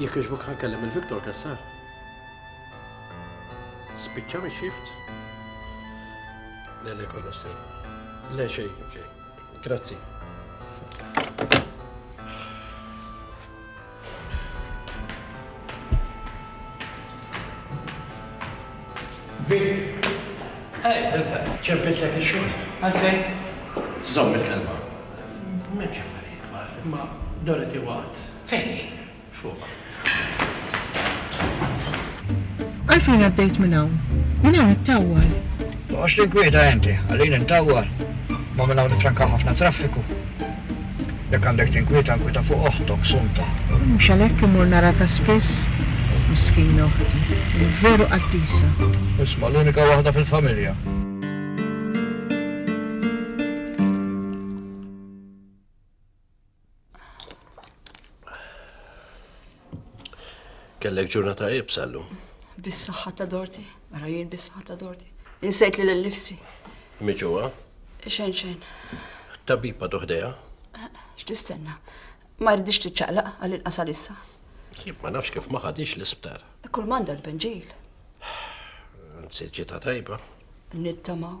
Jekk iġbuk ħankellem il-Viktor Kassar. Spiċċa mi xift? Le, le, kolla sew. Le, xej, xej. Grazzi. Vic, Ej, Elsa, ċempilltek ix-xogħol. Għalfejn? Żżomm il-kelma. M'hemmx affarijiet kbar, imma Dorothy waqgħet. Fejn hi? Fuq. Għalfejn għaddejt minn hawn? Minn hawn ittawwal. Toqgħodx tinkwieta inti, ħallini ntawwal. Imma minn hawn nifrankaw ħafna traffiku. Jekk għandek tinkwieta, inkwieta fuq oħtok, Sunta. Mhux għalhekk immur nara ta' spiss? Miskina oħti. Veru qaddisa. Isma' l-unika waħda fil-familja. Kellek ġurnata ibsa llum. Bis-saħħa ta' Dorti, ara jien bis-saħħa ta' Dorti. Insejt li l-nifsi. Miġuwa? Xejn xejn. Tabiba doħdeja? X'tistenna? Ma jridix tiċċaqlaq għal inqasal issa. Jib ma nafx kif ma ħadix l-isptar. Kull manda tbenġil. Anzi ġita tajba. Nittamaw.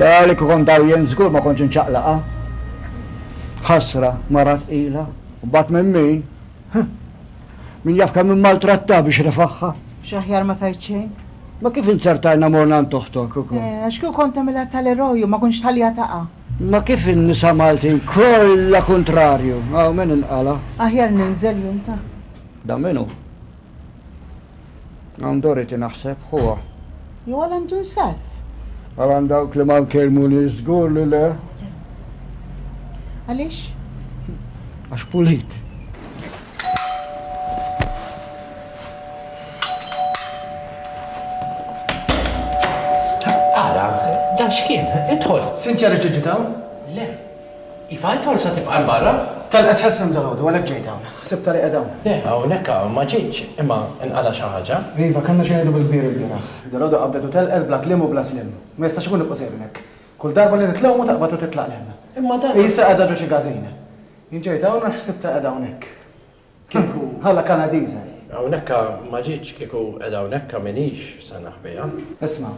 Le li kieku kont hawn jien żgur ma kontx inċaqlaqha. Ħasra, mara tqila. U mbagħad minn min? Huh! Min jaf kemm immaltrattaha biex refagħha. Mhux aħjar ma tgħid xejn? Ma kif inzertajna morna għand oħtok ukoll? Eh, għax kieku kont tagħmilha tal-eroj u ma kontx tħalliha taqa'. Ma kif in-nisa Maltin kollha kuntrarju. Hawn min inqala'. Aħjar ninżel jien ta. Dan min hu? Hawn Dorothy naħseb, ħuha. Jew għal Antun Sarf? Għal għand dawk li ma nkellmunix żgur li le. Għaliex? Għax pulit. Ara, dan x'kien? Idħol. Cynthia reġgħet ġiet hawn? Le. Iva, il-polza tibqa' 'l barra. Telqet Hesrem dalgħodu, għalhekk ġejt hawn. Ħsibtha li qiegħda hawn. Le, hawnhekk ma ġietx, imma inqala' xi ħaġa. Iva, kellna xi ngħidu bil-kbir ilbieraħ. Dalgħodu qabdet u telqet bla kliem u bla sliem. Ma jistax ikun li tqu sejrin hekk. Kull darba li nitlgħu mhu taqbad u titlaq 'l hemm. Imma dan. Qisha qiegħda ġo xi każin. Jien ġejt hawn għax ħsibtha qiegħda hawnhekk. Kieku. Ħalla Kanadiża hi. Hawnhekka ma ġietx, kieku qiegħda hawnhekka m'iniex se naħbiha. Isma',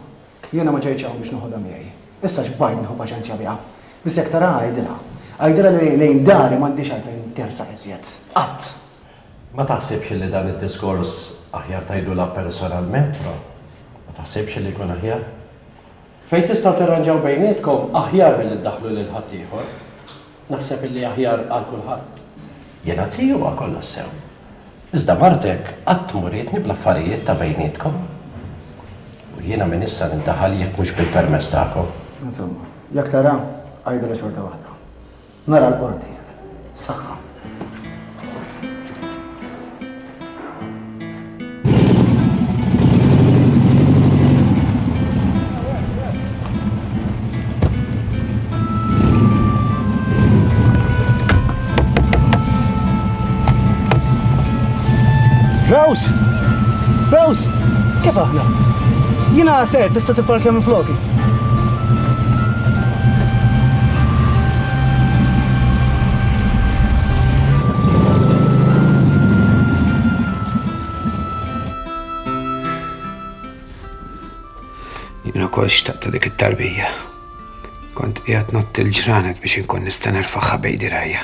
jiena ma ġejtx hawn biex noħodha miegħi. Issa x'bajn nieħu paċenzja biha. Biss jekk taraha għidilha. Għidilha li lejn dari m'għandhiex għalfejn tersaq iżjed. Qatt! Ma taħsibx li dan id-diskors aħjar tgħidulha personalment, Ro? Ma taħsibx li jkun aħjar? Fejn tistgħu tirranġaw bejnietkom aħjar milli ddaħħlu lil ħaddieħor. Naħseb illi aħjar għal kulħadd. Jiena ziju ma' kollox sew. Iżda martek qatt m'urietni bl-affarijiet ta' bejnietkom. U jiena minn issa nindaħal jekk mhux bil-permess tagħkom. Insomma, jekk tara, għidilha xorta waħda. Nara l-Qorti. Saħħa. Rose! Rose! Kif aħna? Jina ser, tista' tipparkja minn floki. Jina kol xtaqta dik it-tarbija. Kont qiegħed nott il-ġranet biex inkun nista' nerfaħħa bejdi rajja.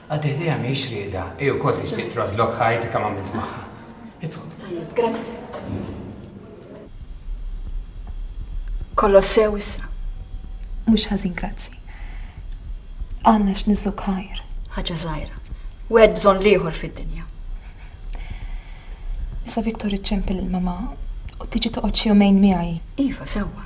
Għad idea mhix rieda, hi wkoll tixtieq troddlok ħajti kemm għamilt magħha. Idħol. Tajjeb, grazzi. Kollox sew issa. Mhux ħażin grazzi. Għandna x'niżżu ħajr. Ħaġa żgħira. Wieħed bżonn l-ieħor fid-dinja. Issa Viktor iċċempel il-mama u tiġi toqgħod xi jumejn miegħi. Iva, sewwa.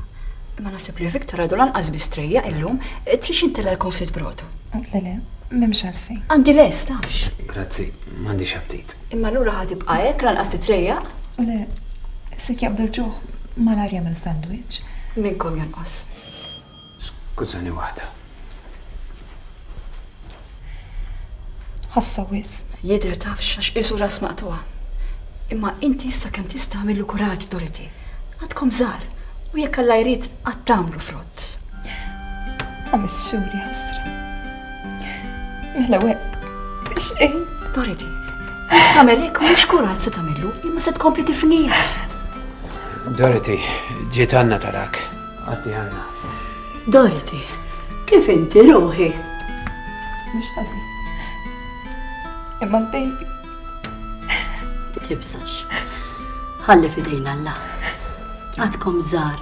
Imma naħseb li Viktor għadu lanqas biss trejjaq illum, tridx intella' lkom ftit brotu? Le le, m'hemmx għalfejn. Għandi lest, tafx. Grazzi, m'għandix aptit. Imma allura ħa tibqa' hekk lanqas titrejjaq? Le, se jaqbdu l-ġuħ malajr jagħmel sandwich. Minnkom jonqos. Skużani waħda. Ħassa wisq. Jidher tafx għax qisu ras maqtugħa. Imma inti issa kemm tista' għamillu kuraġġ, Dorothy. Għadkom żgħar u jekk Alla jrid għad tagħmlu frott. Għamissuri ħasra. Mela hekk biex xejn. Dorothy, tagħmel hekk mhux kuraġġ se tagħmillu, imma se tkompli tifniha. Dorothy, ġiet għandna tarak. Għaddi għanna. Dorothy, kif inti ruħi? Mux ħażin. Imma l-baby. Tibsax. Ħalli fidejn Alla. Għadkom żar.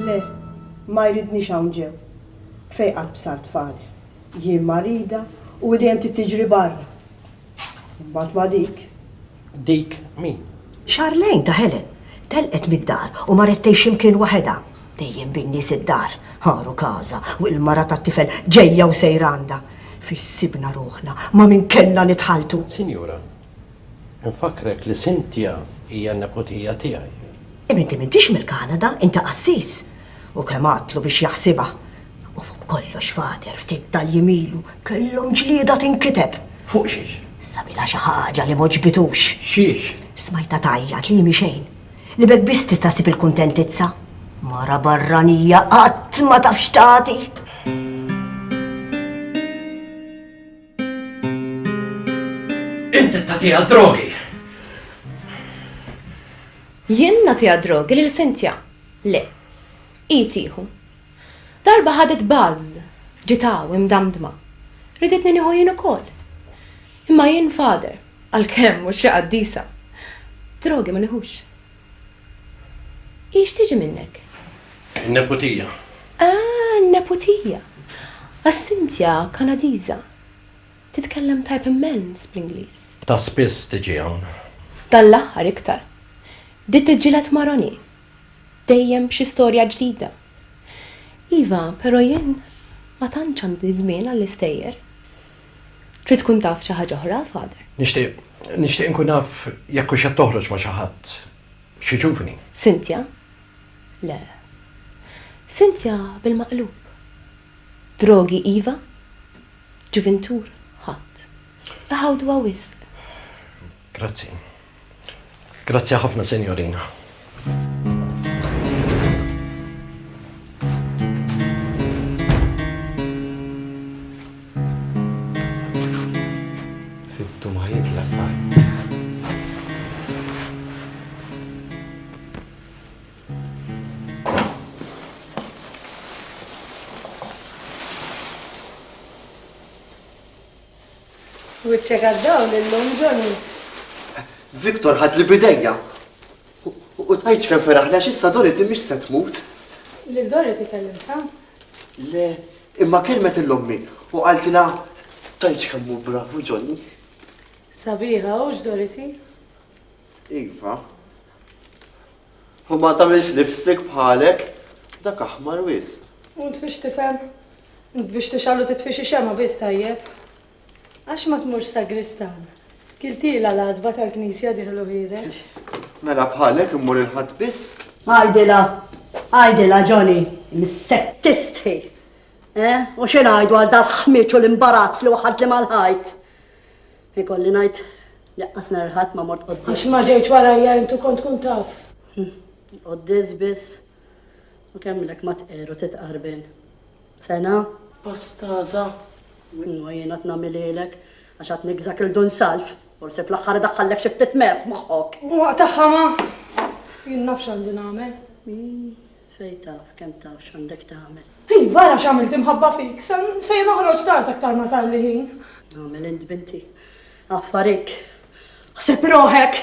Le, ma jridni hawn ġew. Fejqat bsart fadel. Jien marida u hi dejjem trid tiġri barra. Imbagħad ma' dik. Dik min? Charlene ta' Helen. Telqet mid-dar u marret tgħix xi mkien waħedha. Dejjem bin-nies id-dar. Għar u każa, u l-mara tat-tifel ġejja u sejra għandha. Fiex sibna ruħna, ma' min kellna nitħalltu! Sinjura, infakkrek li Cynthia hija nepotija tiegħi. Imma inti m'intix mill-Kanada, inti qassis! U kemm għadtlu biex jaħsibha! U fuq kollox, Father, ftit tal-jiem ilu kellhom ġlieda tinkiteb. Fuq xiex? Sabilha xi ħaġa li m'għoġbitux. Xiex? Smajtha tgħajjat li hi mhi xejn, li b'hekk biss tista' ssib il-kuntentizza. Mara barranija qatt ma taf x'tagħti. Int qed tagħtiha d-drogi! Jien nagħtiha d-drogi lil Cynthia? Le. Hi tieħu. Darba ħadet buzz, ġiet hawn imdamdma. Riditni nieħu jien ukoll. Imma jien Father, għalkemm mhux xi qaddisa. Drogi ma nieħux. Hi x'tiġi minnek? In-neputija. Ah, in-neputija. Għax Cynthia Kanadiża. Titkellem tajb immens bl-Ingliż. Ta' spiss tiġi hawn. Dan l-aħħar iktar. Bdiet tiġġieled ma' Ronnie, Dejjem xi storja ġdida. Iva, però jien ma tantx għandi żmien għall-istejjer. Trid tkun taf xi ħaġa oħra, Father? Nixtieq, nixtieq inkun naf jekk hux qed toħroġ ma' xi ħadd, xi ġuvni. Cynthia, Le. Cynthia bil-maqlub. Drogi iva, ġuvintur ħadd. Iħawduha wisq. Grazzi. Grazzi ħafna, Sinjorina. Wiċċek għad-dawl illum, Johnny. Victor ħadli bidejja. U tgħidx kemm feraħni għax issa Dorothy mhix se tmut. Lil Dorothy kellimta? Le, imma kelmet il-lommi u qaltilha tgħidx kemm hu bravu Johnny. Sabiħa hux Dorothy? Iva. U ma tagħmilx lipstick bħalek, dak aħmar wisq. U int biex tifhem? Int biex tixgħal u titfi xi xemgħa biss tajjeb? Għax ma tmurx sagristan? Kiltilha l-għatba tal-knisja diħlu ħiereġ. Mela bħalek immur il-ħadd biss? Għajdilha, għajdilha Johnny, missek tistħi. Eh? U xi ngħidu għal dal-ħmieġ u l-imbarazz li waħad li mal-ħajt? Ikolli ngħid, laqqas nhar il-Ħadd ma mort quddies. Għax ma ġejtx warajja int u kont tkun taf. Quddies biss. U kemmilek ma tqerr u titqarben. Sena? Post għaża. U inwa jien għad nagħmilhielek, għax għad nigżak 'il Dun Salv. Forsi fl-aħħar idaħħallek xi ftit merħ moħħok. U waqt aħħa ma. Jien naf x'għandi nagħmel. Fejn taf, kemm taf x'għandek tagħmel. Iva, ara x'għamilt imħabba fik. Se noħroġ tard aktar ma sarli ħin. Agħmel int binti. Affarik. Ħseb roħek.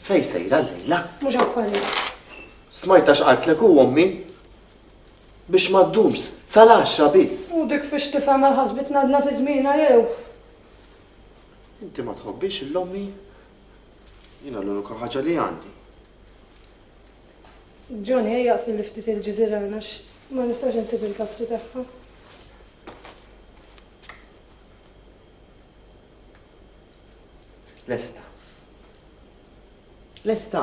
Fejn sejra l-lejla? Mhux affarik. Smajta x'qaltlek u ommi? Biex ma ddumx, sal-għaxxa biss. U dik fiex tifhem għal ħasbitna għadna fi żmiena jew. Inti ma tħobbix l-ommi? Jiena l-unika ħaġa li għandi. Johnny, ejja fil ftit il-ġiżiran għax ma nistax insib il-kaftu tagħha. Lesta. Lesta.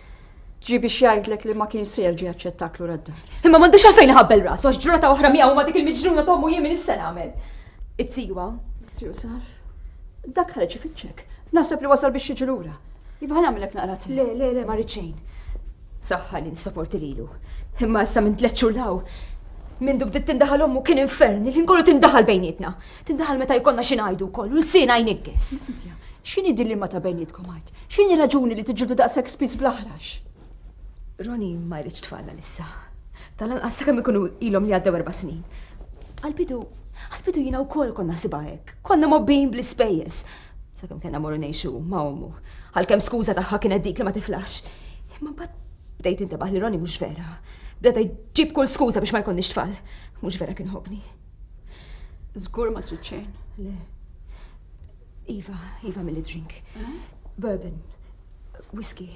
Ġi biex jgħidlek li ma kien se jerġa' jaċċettak lura d-dar. Imma m'għandux għalfejn iħabbel rasu għax ġrata oħra miegħu ma' dik il-miġnuna t'ommu jien min issa nagħmel. It-tiju Tiju Sarf. Dak ħareġ ifittxek. Naħseb li wasal biex jiġi lura. Iva ħa nagħmilek naqra te. Le, le, le, ma rrid xejn. Saħħa li nissaporti lilu. Imma issa minn tliet xhur law. Minn dub dit tindaħal ommu kien infern, il-ħin kollu tindaħal bejnietna. Tindaħal meta jkollna xi ngħidu wkoll u l-sien għajn iggess. X'inhi din li ma ta' bejnietkom għajt? X'inhi raġuni li tiġġieldu daqshekk spiss bl-aħrax? Ronnie ma jridx tfal għalissa. Tal-anqas sakemm ikunu ilhom li għaddew erba' snin. Għalbidu, għalbidu jiena wkoll konna ħsibha hekk. Konna mobbin bl-ispejjeż. Sakemm kellna morru ngħixu ma' ommu. Għalkemm skuża tagħha kienet dik li ma tiflax. Imma mbagħad bdejt intebaħ li Ronnie mhux vera. Bdeta jġib kull skuża biex ma jkollniex tfal. Mhux vera kien ħobni. Żgur ma trid xejn. Le. Iva, iva milli drink. Bourbon, whisky.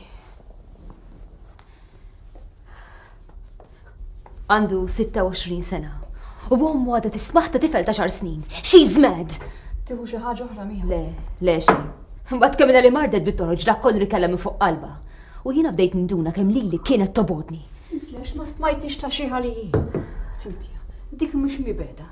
Għandu 26 sena. U għom għada tismaħ ta' tifel ta' xar snin. She's mad! Tiħu xi ħaġa oħra miħa. Le, le xi. Mbagħad kemm li mardet bit-toroġ dak kollu li kellha minn fuq qalba. U jiena bdejt nduna kemm lili kienet tobodni. Għax ma stmajtix ta' xi ħaliji. Sintja, dik mhux mibeda.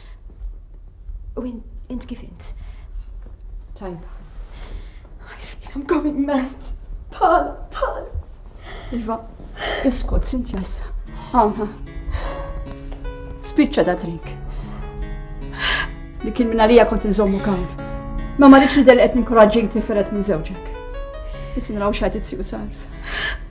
U int kif int? Tajba. I feel I'm going mad. Pala, pala. Iva, iskot, sinti jassa. Għawna. Spiċċa da drink. Li kien minna lija kont nżommu kan. Ma marriċ li del qed ninkoraġġin tiferet minn żewġek. Isin raw xajt it-siju salf.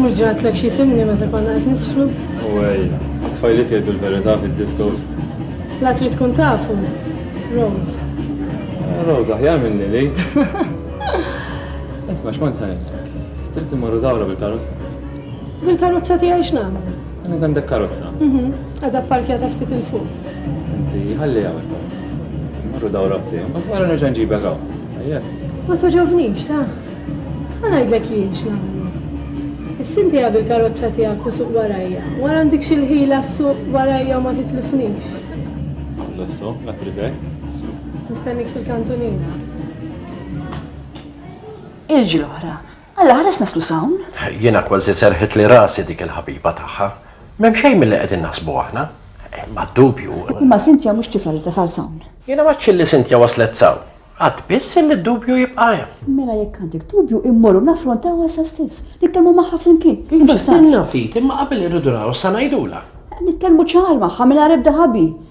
Mhux ġa għedtlek x'isimni meta konna qed nisfru? U ej, għat-tfajliet jgħidu l-verità fid-diskos. La trid tkun tafu, Rose. Rose aħjar minn Lili. Isma' x'kont se ngħidlek. Trid immorru dawra bil-karozza? Bil-karozza tiegħi x'nagħmel? Għandek għandek karozza? Mhm. Għadha pparkjata ftit il fuq. Inti ħalli hawn il-karozza. Morru dawra b'tejn, ma wara nerġa' nġibek hawn. Ejjek. Ma toġobnix, ta? Ma ngħidlek jien x'nagħmlu. Is-sinti bil karozza tiegħek u suq warajja. Wara għandik xi l-ħila suq warajja u ma titlifnix. L-osso, la trivek. Nistennik fil-kantunina. Irġiel oħra, Alla ħares naslu s'hawn? Jiena kważi serrħitli rasi dik il-ħabiba tagħha. M'hemm xejn milli qegħdin naħsbu aħna. Bla dubju. Imma Cynthia mhux tifla li tasal s'hawn. Jiena m'għadx illi Cynthia waslet s'hawn. Għad biss illi d-dubju jibqa' hemm. Mela jekk għandek dubju immorru naffrontawha issa stess. Nitkellmu magħha flimkien. Iva, stenna ftit, imma qabel irridu naraw sa ngħidulha. Nitkellmu ċar magħha mingħajr ebda ħabi.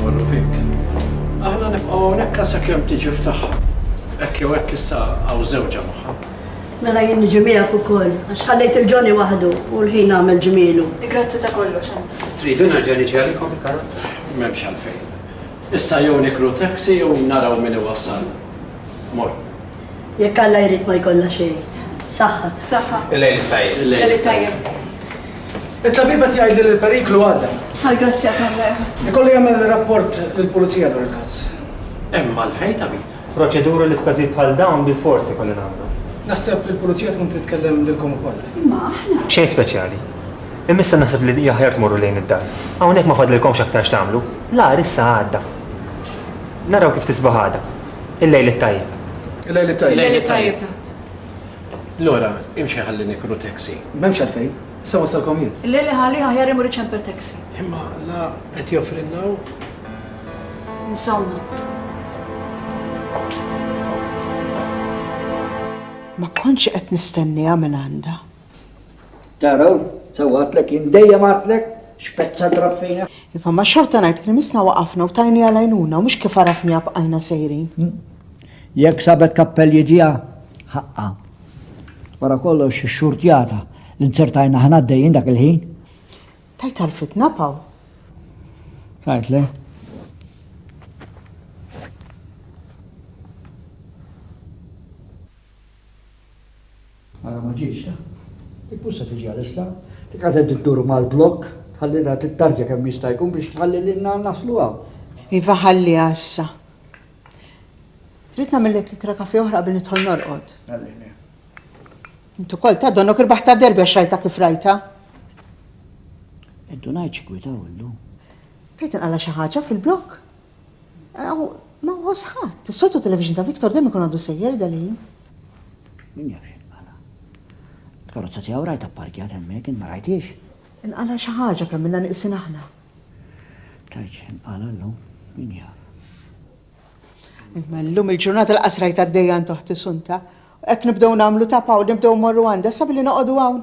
Morru fik. Aħna nibqgħu hawnhekk għal sakemm tiġi f'tagħha. Hekk jew hekk issa hawn żewġha magħha. Mela jien niġi miegħek ukoll, għax ħallejt il-Johnny waħdu u l-ħin għamel ġmielu. Grazzi ta' kollox, Anna. Tridu nerġa' niġi għalikom il-karozza? M'hemmx għalfejn. Issa jew nikru taxi jew naraw min iwassalna. Morru. Jekk Alla jrid ma jkollha xejn. Saħħa. Saħħa. Il-lejl it-tajjeb. Il-lejl it-tajjeb. It-tabib qed jgħidli li l-periklu għadda. Għall-grazzja t'Alla jħassni. Ikolli jagħmel rapport lill-pulizija dwar il-każ. Hemm għalfejn, tabib. Proċeduri li f'każijiet bħal dawn bilfors ikolli nagħmlu. Naħseb li l-pulizija tkun titkellem lilkom ukoll. Imma aħna. Xejn speċjali. Imma issa naħseb li hija ħjar tmorru lejn id-dar. Hawnhekk ma fadlilkomx aktar x'tagħmlu. L-agħar issa għadda. Naraw kif tisbaħ għada. Il-lejl it-tajjeb. Il-lejl it-tajjeb. Il-lejl it-tajjeb taħt. Lora, imxi ħalli nikru taxi. M'hemmx għalfejn. Issa wassalkom jien. Il-lejl iħalli aħjar imur iċempel taxi. Imma la qed joffrilna hu. Insomma. Ma kontx qed nistenniha minn għandha. Taraw, sewa għatlek, jien dejjem għatlek, xpezza drab fejna. Iva, ma xorta ngħid kien misna waqafna u tajni għalajnuna, mhux kif għarafni għabqajna sejrin. Hmm? Jekk sabet kappell jiġiha, ħaqqa. Wara kollox ix-xurtjata li nzertajna ħna d-dejjin dak il-ħin. Tajt għal-fitna paw. Tajt le. Ara ma ġietx ta. Mhux se tiġi għalissa. Dik għad qed iddur mal-blokk, tħallilha tittarġa kemm jista' jkun biex tħalli lilna naslu hawn. Iva ħalliha issa. Trid nagħmillek ikra kafè oħra qabel nidħol norqod? Għalhekk le. Int ukoll ta' donnok irbaħtha derbi għax rajtha kif rajtha. Indunajt xi gwitaw illum. Tgħid inqala' xi ħaġa fil-blokk? Aw, ma nħoss ħadd. Is-soltu television ta' Victor dejjem ikun għadu sejjer Dali. Min jaf x'inqala'. Il-karozza tiegħu rajtha pparkjat hemmhekk, int ma rajthiex? Inqala' xi ħaġa kemm ilna nieqsin aħna. Tgħidx x'inqala' llum, min jaf. Imma llum il-ġurnata laqas rajt għaddejja għand oħti Sunta. Hekk nibdew nagħmlu tapa u nibdew mmorru għandha issa billi noqogħdu hawn.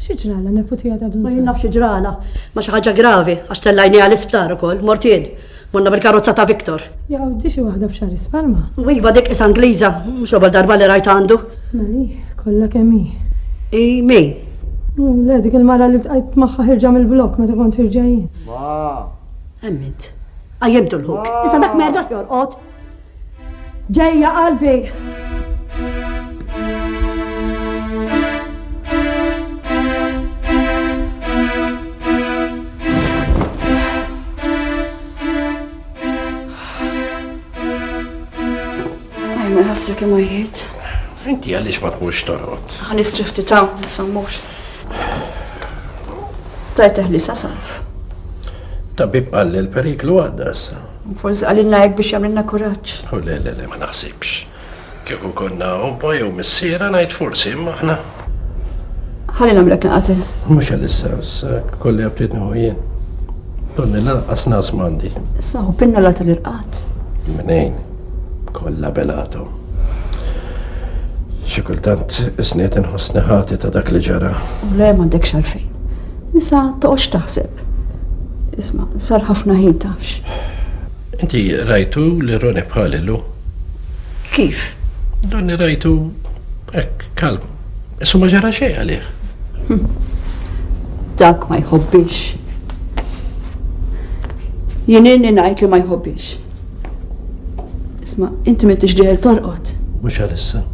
Xi ġralha neputija ta' Dun Sala? Ma jien naf xi ġralha. Ma xi ħaġa gravi, għax tellajniha l-isptar ukoll, mort jien. Morna bil-karozza ta' Victor. Jaqgħu di xi waħda f'xahar isparma. U iva dik is Angliża, mhux l-ewwel darba li rajt għandu. Mali, kollha kemm hi. Hi min? U le dik il-mara li tqajt magħha ħirġa mill-blokk meta kont ħirġa jien. Ma! Hemm int. Qajjimtu l-ħuk. Issa dak ma jerġax jorqod. Ġejja qalbi. Għajma jħassru kemm għajjiet. Inti għaliex ma tmux torqod? Għan istrifti ta' nsammux. Tajt eħli sa' sarf. Tabib qalli l-periklu għadda issa. Forsi għalilna hekk biex jagħmlilna kuraġġ. U oh, le, le, le, ma naħsibx. Kif konna obba jew missiera ngħid forsi imma aħna. Ħalli nagħmlek naqati. Mhux għalissa, issa kolli għabtiet nieħu jien. Donni lanqas nas m'għandi. Issa u pinna la tal-irqat. Minejn, kollha belatom. Xi kultant isniet inħossni ħati ta' dak li ġara. U le m'għandek xalfejn. Issa toqgħodx taħseb. Isma', sar ħafna ħin tafx. Inti rajtu li Roni bħali lu? Kif? Donni rajtu hekk kalm. Issu ma ġara xejn għalih. Hm. Dak ma jħobbix. Jien inni ngħid li ma jħobbix. Isma, inti m'intix dejjer torqod. Mhux għalissa.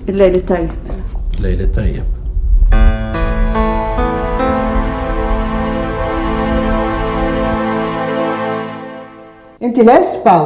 Il-lejli tajjeb. Il-lejli tajjeb. Inti lest, Paw?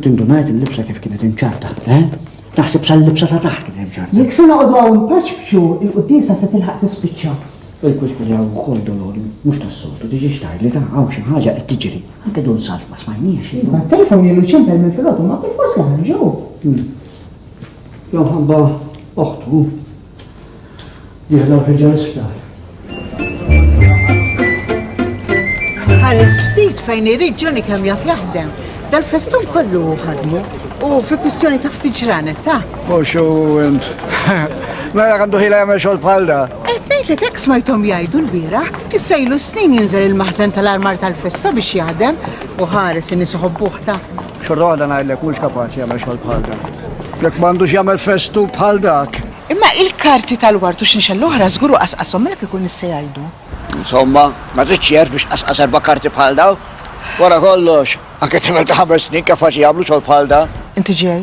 Tindunajt il-libsa kif kienet imċarta, eh? Naħseb sal-libsa ta' taħt kienet imċarta. Jekk se noqogħdu hawn npaċċbċu, il-quddiesa se tilħaq tispiċċa. Il-kwitk li hawn ukoll dolori, mhux tas-soltu, diġi xtar li ta' hawn xi ħaġa qed tiġri. Anke dun salf ma smajniex. Iva, telefon li ċempel minn filgħodu ma bil-forsi ħarġu. Hmm. Jew ħabba oħtu. Jihla u ħiġa l-isptar. Ħares ftit fejn irid Johnny kemm jaf jaħdem. Dal-festun kollu ħadmu u fi kwistjoni ta' ftit ġranet ta'. Poxu int. Mela għandu ħila jagħmel xogħol bħal da. Qed ngħidlek hekk smajthom jgħidu l-bira, issa ilu snin jinżel il-maħżen tal-armar tal-festa biex jaħdem u ħares in-nies ta' Xorta waħda ngħidlek mhux kapaċi jagħmel xogħol bħal dan. Jekk m'għandux jagħmel festu bħal dak. Imma il-karti tal-ward u x'inxel l-oħra żgur hu qasqashom mela kieku n-nies se jgħidu. Insomma, ma tridx ċerv biex tqasqas erba' karti bħal dawn. Wara kollox, anke tifel ta' ħames snin kapaċi jagħmlu xogħol bħal dan. Inti ġej,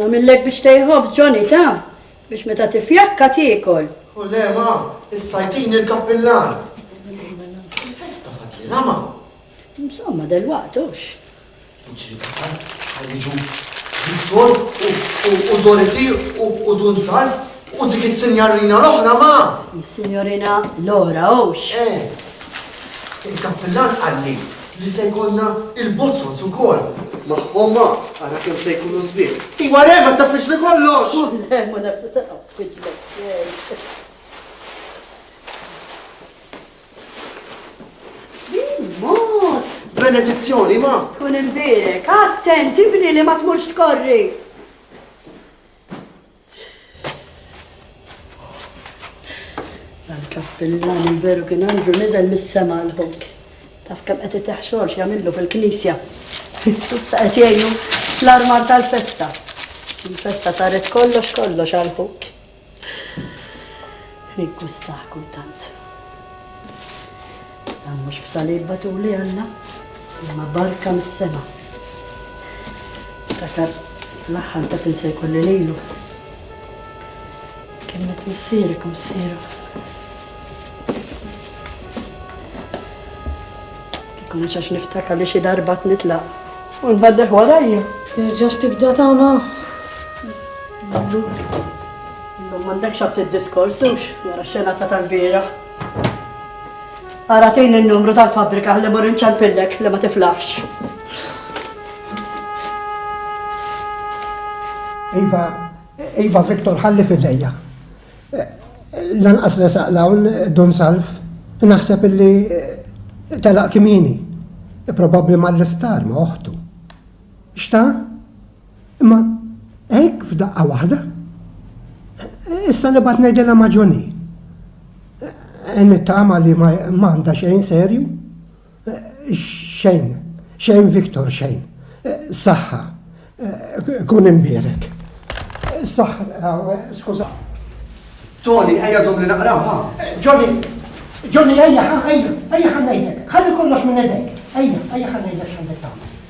Namillek biex tejħob, Johnny, ta? Biex meta tifjakka tiekol. U le ma, issa jtini l-kappillan. Il-festa fadlilha ma. Insomma, delwaqt hux. Iġri kasal, ħajġu Viktor u Dorothy u Dun Salf u dik is-sinjarina l-oħra ma. Is-sinjorina Lora hux. Eh, il-kappillan qalli Li se jkollna il-bozzot ukoll. Ma homma, ara kemm se jkunu sbieħ. Iwa re, ma tafx li kollox! Le, ma nafx se qaffiġlek. Benedizzjoni, ma! Kun imbirek, attenti bni li ma tmurx tkorri! Dan kappillan il-veru kien għandu nizel mis-sema l-ħok. Taf kemm qed iteħ xogħol x'jagħmillu fil-knisja. Issa qed jgħinu fl-armar tal-festa. Il-festa saret kollox kollox għal ħok. Nikku staħ kultant. Dan mhux b'salib batuli Alla, imma barka mis-sema. Ftakar l-aħħar meta kien se jkolli lilu. Kelmet missierek u missieru. Kieku mhux għax niftakar li xi darba tnitlaq. U nbaddeħ warajja. Terġax tibda tama. Illum m'għandekx għab tiddiskorsu wara xena ta' tal-bieraħ. Ara tejn il-numru tal-fabrika li mur inċempillek li ma tiflaħx. Iva, Iva Viktor ħalli fidejja. Lanqas li saqlawn dun salf, naħseb illi eh, telaq kimini. Probabbli mal-isptar ma' oħtu. Xta? Imma hekk f'daqqa waħda? Issa nibgħat ngħidilha ma' Johnny. Nittama li ma għandha xejn serju. Xejn, xejn Victor, xejn. Saħħa. Kun imbierek. Saħħa, skuża. Tony, ejja żomm li naqraw, ha? Johnny, Johnny, ejja, ejja, ejja ħannejlek. Ħalli kollox minn edek. Ejja, ejja ħannejlek x'għandek tagħmel.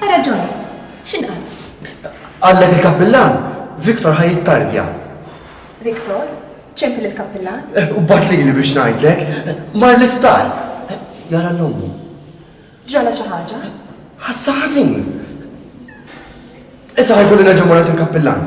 Ha raġon. X'inqal? Qallek il-kappillan, Victor ħa jittardja. Victor? Ċempi lill-kappillan? Eh, u bat lili biex ngħidlek, mar l-isptar. Eh, jara l-ommu. Ġala xi ħaġa? Ħassa ħażin. Issa ħajkolli nerġa' mara il-kappillan.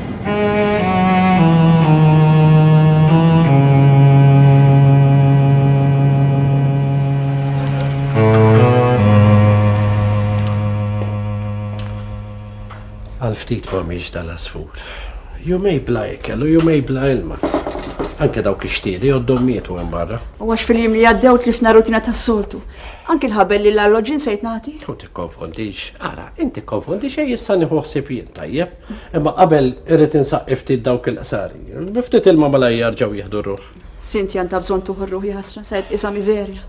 Għal ftit ma miex dal-asfur. Jumej bla ikel u jumej bla ilma. Anke dawk ix-xtieli għoddhom mietu hemm barra. U għax fil-jiem li għaddew tlifna rutina tas-soltu. Anki l-ħabel li l-alloġin se jitnati. U tikkonfondix, ara, inti konfondix ej issa nieħu ħsieb jien tajjeb. Imma qabel irrid insaqqi ftit dawk il-qsari. Bi ftit ilma malaj jarġgħu jieħdu r-ruħ. Sinti għandha bżonn tuħu r-ruħ jaħasra se tqisha miżerja.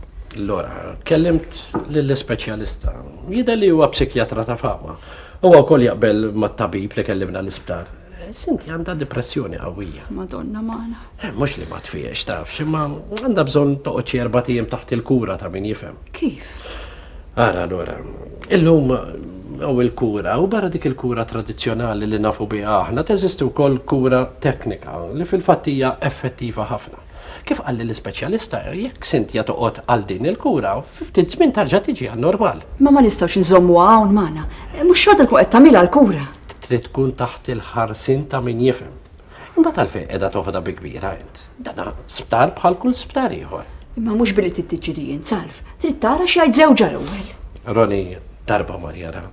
Lora, kellimt lill-ispeċjalista. Jidher li huwa psikjatra ta' fama. Huwa wkoll jaqbel mat-tabib li kellimna l-isptar. Sinti għandha depressjoni qawwija. Madonna magħna. Eh, Mhux li ma tfiex taf, imma għandha bżonn toqgħod xi erba' tiem taħt il-kura ta' min jifhem. Kif? Ara allura, illum hawn il-kura u barra dik il-kura tradizzjonali li nafu biha aħna teżisti wkoll kura teknika li fil-fatt hija effettiva ħafna. Kif qalli l-ispeċjalista, jekk Cynthia toqgħod għal din il-kura, fi ftit żmien tarġa' tiġi għan-normal. Imma ma nistgħux inżommuha hawn magħna. Mhux xorta tkun qed tagħmilha l-kura. Trid tkun taħt il-ħarsien ta' min jifhem. Imbagħad għalfejn qiegħda toħodha bi kbira int? Dana sptar bħal kull sptar ieħor. Imma mhux billi trid tiġri int salv, trid tara x'għid żewġha l-ewwel. Roni darba mar jara.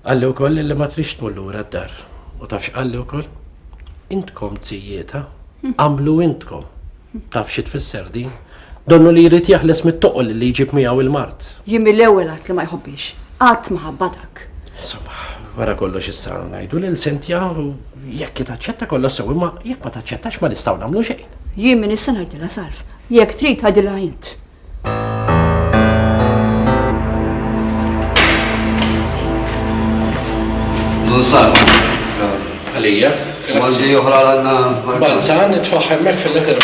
Qalli wkoll li ma trix tmur lura d-dar. U tafx qalli wkoll? Intkom tzijieta, għamlu intkom. Taf xi tfisser din? Donnu li jrid jeħles mit-toqol li jġib miegħu l-mard. Jien mill-ewwel għidt li ma jħobbnix. Qatt ma ħabbha dak. Insomma, wara kollox issa ngħidu lil Sintja u jekk hi taċċetta kollox sew imma jekk ma taċċettax ma nistgħu nagħmlu xejn. Jien min issa ngħidilha sarf. Jekk trid għidilha int. Dun sal. Għalija. Għaldi oħra għanna. Balzan, it-faħħemmek fil-letter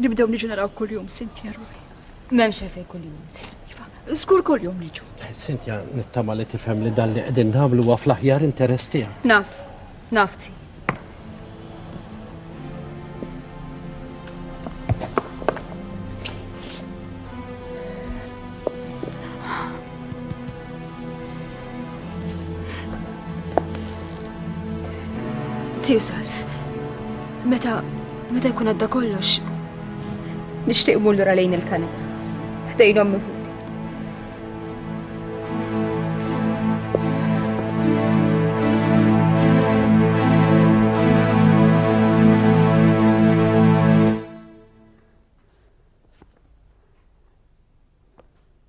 Nibdew niġu naraw kuljum Sintja ruħi. M'hemmx fejn kuljum nsir. Iva, żgur kuljum niġu. Eh, Sintja nittama li tifhem li dan li qegħdin nagħmlu huwa fl-aħjar interess tiegħek. Naf, naf ti. Tiju Salf, meta, meta jkun għadda kollox, nixtieq mur lura lejn il-kanal. Ħdejn ommi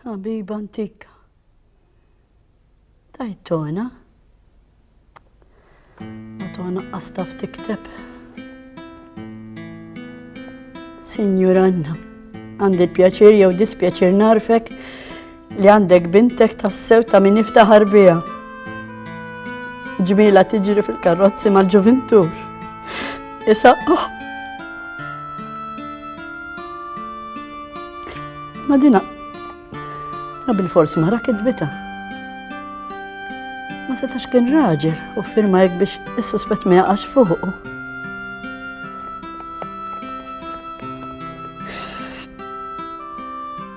Ħabiba antika. Tajt tona. Ma tona qastaf tikteb. Signor Anna, għandi pjaċir jew dispjaċir narfek li għandek bintek tassew ta' min iftaħar bija. Ġmila tiġri fil-karrozzi mal-ġuvintur. Isaqqaħ. Ma dina. Na bil-fors mara kidbita. Ma setax kien raġel u firma jek biex is-suspett ma jaqax fuqu.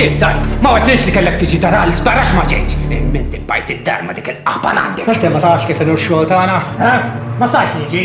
Xie, daj, ma għadnix li kellek tiġi tara l sbarax ma ġejġ. Imminti bajt id-dar ma dik il-qaba għandek. Inti ma tafx kif il-xogħol tagħna? Ma sax niġi.